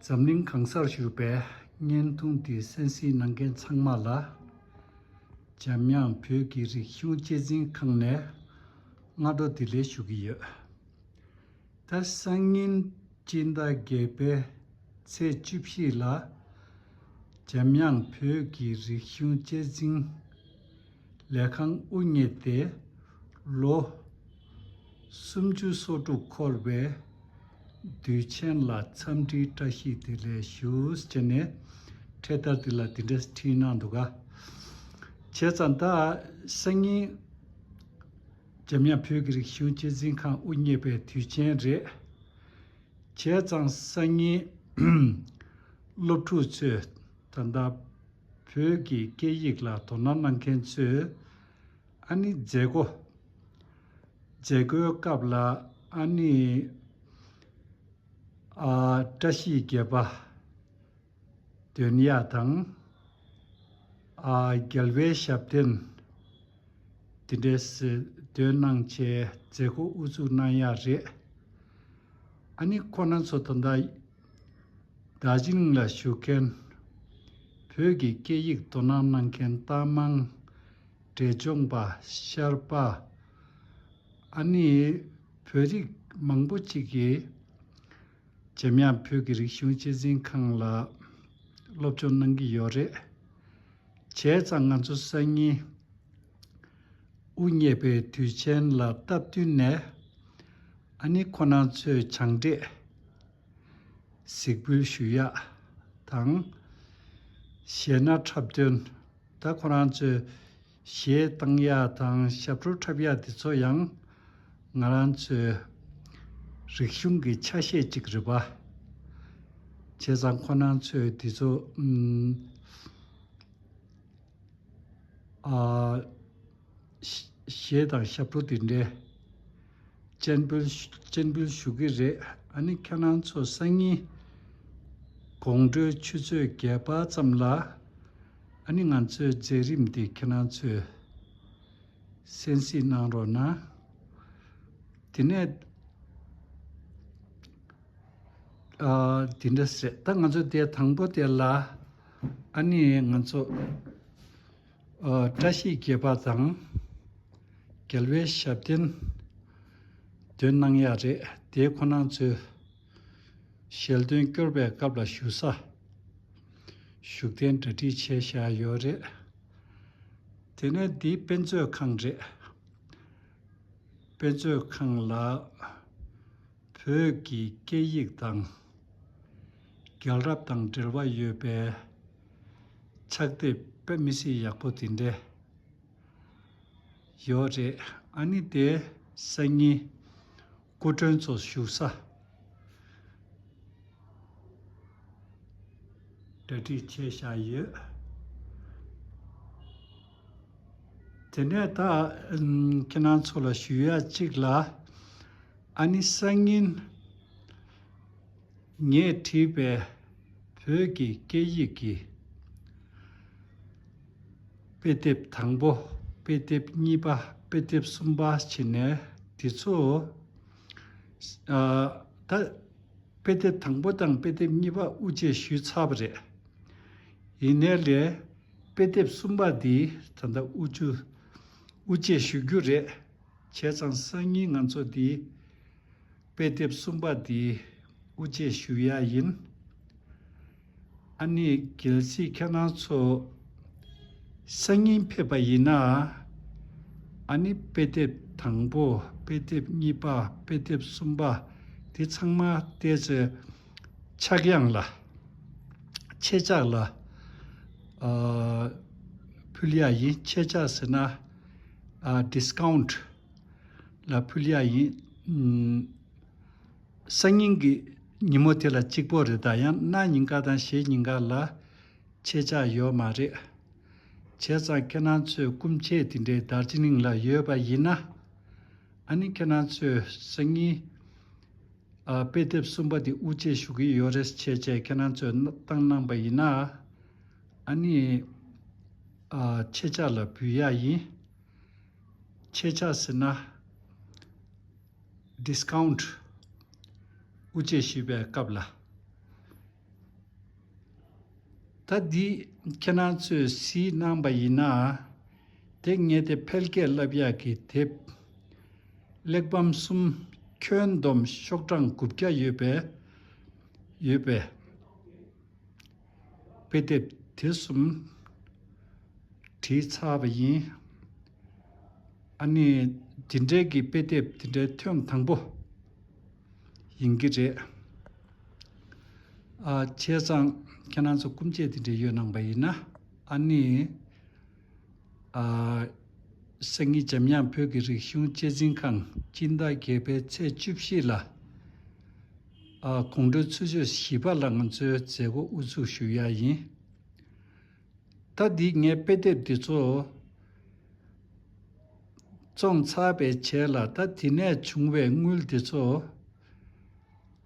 འཛམ་གླིང་གང་སར་བཞུགས་པའི་བརྙན་ཐུང་དེ་གསན་གཟིགས་གནང་མཁན་ཚང་མ་ལ། འཇམ་དབྱངས་བོད་ཀྱི་རིག་གཞུང་གཅེས་འཛིན་ཁང་ནས་སྔ་དྲོ་བདེ་ལེགས་ཞུ་གི་ཡོད། ད་སང་ཉིན་སྤྱི་ཟླ་བརྒྱད་པའི་ཚེས་བཅུ་བཞི་ལ། འཇམ་དབྱངས་བོད་ཀྱི་རིག་གཞུང་གཅེས་འཛིན། ལས་ཁང་དབུ་བརྙེས་ཏེ་ལོ། སུམ་ཅུ་སོ་དྲུག་འཁོར་བའི། དུས་ཆེན་ལ་འཚམས་འདྲིའི་བཀྲ་ཤིས་དེ་ལས་ཞུས་ཅེས་ནས། འཕྲེད་དར་དེ་ལ་འདི་འདྲ་བྲིས་གནང་འདུག་ག། བྱས་ཙང་ད་སང་ཉིན། འཇམ་དབྱངས་བོད་ཀྱི་རིག་གཞུང་གཅེས་འཛིན་ཁང་དབུ་བརྙེས་པའི་དུས་ཆེན་རེད། བྱས་ཙང་སང་ཉིན། སློབ་ཕྲུག་ཚོས་ད་ལྟ། བོད་ཀྱི་སྐད་ཡིག་ལ་དོ་སྣང་གནང་མཁན་ཚོས་ཨ་ནི་མཛད་སྒོ། མཛད་སྒོའི་སྐབས་ལ་ཨ་ནི། ཨ། བཀྲ་ཤིས་བརྒྱད་པ། དོན་གཡག་དང། ཨ། རྒྱལ་བའི་ཞབས་བརྟན། དེ་འདྲའི་ཟེར་སྡོད་གནང་ཆེད་མཛད་སྒོ་དབུ་བཙུགས་གནང་ཡག་རེད། ཨ་ནི་ཁོ་ན་ཚོ་ད་ལྟ། དག་ཞིང་ལ་བཞུགས་མཁན། བོད་ཀྱི་སྐད་ཡིག་དོ་སྣང་གནང་མཁན་རྟ་མང་འབྲས་ལྗོངས་པ་ཤར་པ་ཨ་ནི་བོད་རིགས་མང་པོ་ཅིག་གིས་འཇམ་དབྱངས་བོད་ཀྱི་རིག་གཞུང་གཅེས་འཛིན་ཁང་ལ་སློབ་སྦྱོང་གནང་གི་ཡོད་རེད། བྱས་ཙང་ང་ཚོ་སང་ཉིན། དབུ་བརྙེས་པའི་དུས་ཆེན་ལ་སྟབས་བསྟུན་ནས་ཨ་ནེ་ཁོ་ན་ཚོའི་བྱང་བགྲེས་གཟིགས་འབུལ་ཞུ་ཡག་དང། གཞས་སྣ་འཁྲབ་སྟོན་ད་ཁོ་རང་ཚོས་གཞས་བཏང་ཡག་དང་ཞབས་བྲོ་འཁྲབ་ཡག་དེ་ཚོ་ཡང་ང་རང་ཚོའི་རིག་གཞུང་གི་ཆ་ཤས་གཅིག་རེད་པ། བྱས་ཙང་ཁོ་ན་ཚོས་དེ་ཚོ་ཞེས་དང་ཞབས་བྲོ་འདི་འདྲའི། སྤྱན་འབུལ་ཞུ་གི་རེད་ཨ་ནི་ཁྱེད་རང་ཚོ་སང་ཉིན། དགོང་དྲོའི་ཆུ་ཚོད་བརྒྱད་པ་ཙམ་ལ། ཨ་ནི་ང་ཚོའི་མཛད་རིམ་འདི་ཁྱེད་རང་ཚོས་གསན་གཟིགས་གནང་རོགས་གནང། དེ་ནས། དེ་འདྲ་ཟེར་ད་ང་ཚོ་དེ་དང་པོ་དེ་ལ། ཨ་ནི་ང་ཚོ་བཀྲ་ཤིས་དགེ་བ་དང་རྒྱལ་བའི་ཞབས་བརྟན་འདོན་གནང་ཡག་རེད་དེ་ཁོ་ནང་ཚོའི་ཞལ་འདོན་སྐྱོར་བའི་སྐབས་ལ་ཞུ་ས་ཞུགས་ཐན་འདྲ་བྲིས་བྱས་བཞག་ཡོད་རེད་དེ་ནས་འདི་དཔེ་མཛོད་ཁང་རེད་དཔེ་མཛོད་ཁང་ལ་བོད་ཀྱི་སྐད་ཡིག་དང་རྒྱལ་རབས་དང་འབྲེལ་བ་ཡོད་པའི་ཕྱག་དེབ་དཔེ་མི་སྲིད་ཡག་པོ་དེ་འདྲ་ཡོད་རེད་ཨ་ནི་དེ་སང་ཉིན་སྐུ་མགྲོན་ཚོ་བཞུགས་ས་གྲ་སྒྲིག་བྱས་བཞག་ཡོད། དེ་ནས་ད་ཁྱེད་རང་ཚོ་ལ་ཞུ་ཡག་ཅིག་ལ། ཨ་ནི་སང་ཉིན་ངས་བྲིས་པའི་བོད་ཀྱི་སྐད་ཡིག་གི་དཔེ་དེབ་དང་པོ་དཔེ་དེབ་གཉིས་པ་དཔེ་དེབ་གསུམ་པ་བྱིན་ནས་འདི་ཚོ་ད་དཔེ་དེབ་དང་པོ་དང་དཔེ་དེབ་གཉིས་པ་དབུ་འབྱེད་ཞུས་ཚར་བ་རེད། ཡིན་ནའི་ལས་དཔེ་དེབ་གསུམ་པ་འདི་ད་ལྟ་དབུ་འབྱེད་ཞུ་རྒྱུ་རེད། བྱས་ཙང་སང་ཉིན་ང་ཚོ་འདིའི། དཔེ་དེབ་གསུམ་པ་འདིའི་དབུ་འབྱེད་ཞུ་ཡ་ཡིན། ཨ་ནི་གལ་སྲིད་ཁྱེད་རང་ཚོ། སང་ཉིན་ཕེབས་པ་ཡིན་ན། ཨ་ནི་དཔེ་དེབ་དང་པོ་དཔེ་དེབ་གཉིས་པ་དཔེ་དེབ་གསུམ་པ་འདི་ཚང་མ་བལྟས་ཚེ། ཕྱག་དབྱངས་ལ། ཆེད་བཅག་ལ། ཕུལ་ཡ་ཡིན་ཆེད་བཅག་ཟེར་ན། Discount། ལ་ཕུལ་ཡག་ཡིན། སང་ཉིན་གྱི་ཉིན་མོ་དེ་ལ་གཅིག་པོ་རེད་ད་ཡང་གནའ་ཉིན་འགའ་དང་ཞེ་ཉིན་འགའ་ལ་ཁྱེད་ཅག་ཡོད་མ་རེད། བྱས་ཙང་ཁྱེད་རང་ཚོས་སྐུ་མཆེད་དེ་འདྲའི་དར་ཅི་ལིང་ལ་ཡོད་པ་ཡིན་ན། ཨ་ནི་ཁྱེད་རང་ཚོས་སང་ཉིན། དཔེ་དེབ་གསུམ་པ་དེ་དབུ་འབྱེད་ཞུ་གི་ཡོད་རེད་ཟེར་བྱས་ཁྱེད་རང་ཚོས་བཏང་གནང་པ་ཡིན་ན། ཨ་ནི། ཁྱེད་ཅག་ལ་འབུལ་ཡག་ཡིན། ཁྱེད་ཅག་ཟེར་ན། Discount། དབུ་འབྱེད་ཞུས་པའི་སྐབས་ལ། ད་འདི་ཁྱེད་རང་ཚོས་གཟིགས་གནང་པ་ཡིན་ན། དེ་ངས་དེ་འཕེལ་རྒྱས་རླབས་ཡག་གི་དེབ། གླེགས་བམ་གསུམ་ཁྱོན་བསྡོམས་ཤོག་གྲངས་དགུ་བརྒྱ་ཡོད་པས། དཔེ་དེབ་དེ་གསུམ་བྲིས་ཚར་བ་ཡིན། ཨ་ནི་ཇི་འདྲའི་གི་དཔེ་དེབ་དེ་འདྲའི་ཐོན་དང་པོ་ཡིན་གྱི་རེད། ཨ་ཁྱེད་ཚང་ཁྱེད་རང་ཚོ་སྐུ་མཆེད་དེ་འདྲས་ཡོད་སྣང་བ་ཡིན་ན་ཨ་ནི། སེང་གེ་འཇམ་དབྱངས་བོད་ཀྱི་རིག་གཞུང་གཅེས་འཛིན་ཁང་སྤྱི་ཟླ་བརྒྱད་པའི་ཚེས་བཅུ་བཞི་ལ་དགོང་དྲོའི་ཚུ་ཆོད་བཞི་པ་ལ་ང་ཚོའི་མཛད་སྒོ་དབུ་ཚུགས་ཞུ་ཡ་ཡིན། ད་འདིས་ངའི་དཔེ་དེབ་འདི་ཚོ་བཙོང་ཚར་བས་བྱས་ལ་ད་དེ་ནས་བྱུང་བའི་དངུལ་དེ་ཚོ་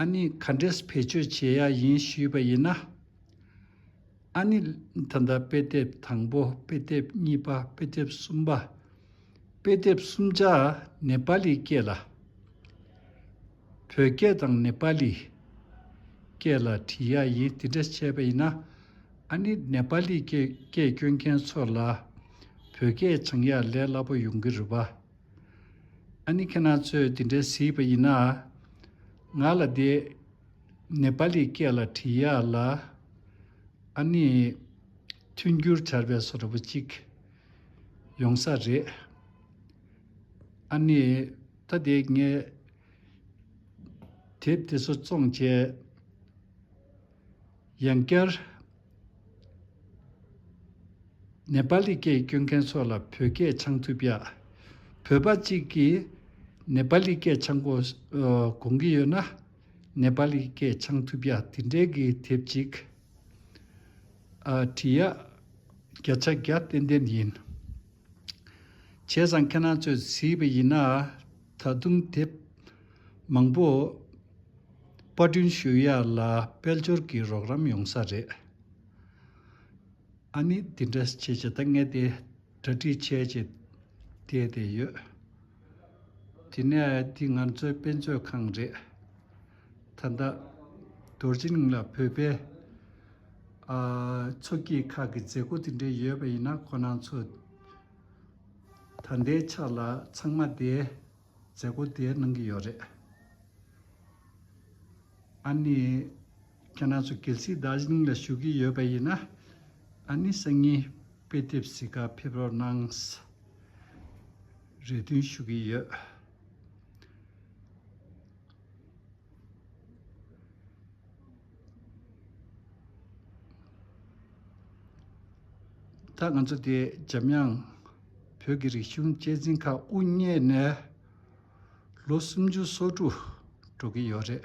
ཨ་ནི་ག་འདྲེས་བེད་སྤྱོད་བྱེད་ཡ་ཡིན་ཞུས་པ་ཡིན་ན། ཨ་ནི། ད་ལྟ་དཔེ་དེབ་དང་པོ་དཔེ་དེབ་གཉིས་པ་དཔེ་དེབ་གསུམ་པ་དཔེ་དེབ་གསུམ་ཆ་ནེ་པ་ལི་སྐད་ལ། བོད་སྐད་དང་ནེ་པ་ལི་སྐད་ལ་བྲིས་ཡ་ཡིན་དེ་འདྲ་བྱས་པ་ཡིན་ན་ཨ་ནི་ནེ་པ་ལི་སྐད་སྐྱོན་མཁན་ཚོ་ལ་བོད་སྐད་སྦྱང་ཡ་ལས་སླ་པོ་ཡོང་གི་རེད་བ། ཨ་ནི་ཁྱེད་རང་ཚོས་དེ་འདྲ་གཟིགས་པ་ཡིན་ན་ང་ལ་དེ། ནེ་པ་ལིའི་སྐད་ལ་བྲིས་ཡག་ལ། ཨ་ནི། མཐུན་འགྱུར་བྱར་བས་སོ་ར་བུ་གཅིག། ཡོང་ས་རེད། ཨ་ནི། ད་དེ་ངས། དེབ་དེ་ཚོ་བཙོང་བྱས། ཡང་བསྐྱར། ནེ་པ་ལི་སྐད་སྐྱོན་མཁན་ཚོ་ལ་བོད་སྐད་འཆང་ཐུབ་ཡག། བོད་པ་གཅིག་གིས་ནེ་པ་ལི་སྐད་འཆང་གོ། གོང་གི་ཡོད་ན། ནེ་པ་ལིའི་སྐད་ཆང་ཐུབ་ཡ་དེ་འདྲའི་གི་ཐེབས་ཅིག། ཨ། བྲིས་ཡ། བརྒྱ་ཆ་བརྒྱ་ཏན་ཏན་ཡིན། བྱས་ཙང་ཁྱེད་རང་ཚོས་བྲིས་པ་ཡིན་ན་ད་དུང་དེབ་མང་པོ་དཔར་སྐྲུན་ཞུ་ཡ་ལ་དཔལ་འབྱོར་གི་རོགས་རམ་ཡོང་ས་རེད། ཨ་ནི་དེ་འདྲ་བྱས་བྱས་ད་ངས་དེ་འདྲ་བྲིས་བྱས་བྱས་བལྟས་བལྟས་ཡོད། དེ་ནས་འདི་ང་ཚོའི་དཔེ་མཛོད་ཁང་རེད། ད་ལྟ་རྡོ་རྗེ་གླིང་ལ་བོད་པའི་མཚོ་སྐྱེས་ཁག་གི་མཛད་སྒོ་དེ་འདྲའི་ཡོད་པ་ཡིན་ན་ཁོ་ནང་ཚོ་ད་ལྟའི་ཆ་ལ་ཚང་མ་དེའི་མཛད་སྒོ་དེ་གནང་གི་ཡོད་རེད། ཨ་ནི། ཁྱེད་རང་ཚོ་གལ་སྲིད་དག་ཞིང་ལ་ཞུགས་ཀྱི་ཡོད་པ་ཡིན་ན། ཨ་ནི་སང་ཉིན་དཔེ་དེབ་བཟི་ཁར་ཕེབས་རོགས་གནང། རེ་འདུན་ཞུ་གི་ཡོད། ད་ང་ཚོ་དེ་འཇམ་དབྱངས་བོད་ཀྱི་རིག་གཞུང་གཅེས་འཛིན་ཁང་དབུ་བརྙེས་ནས་ལོ་སུམ་ཅུ་སོ་དྲུག་འགྲོ་གི་ཡོད་རེད།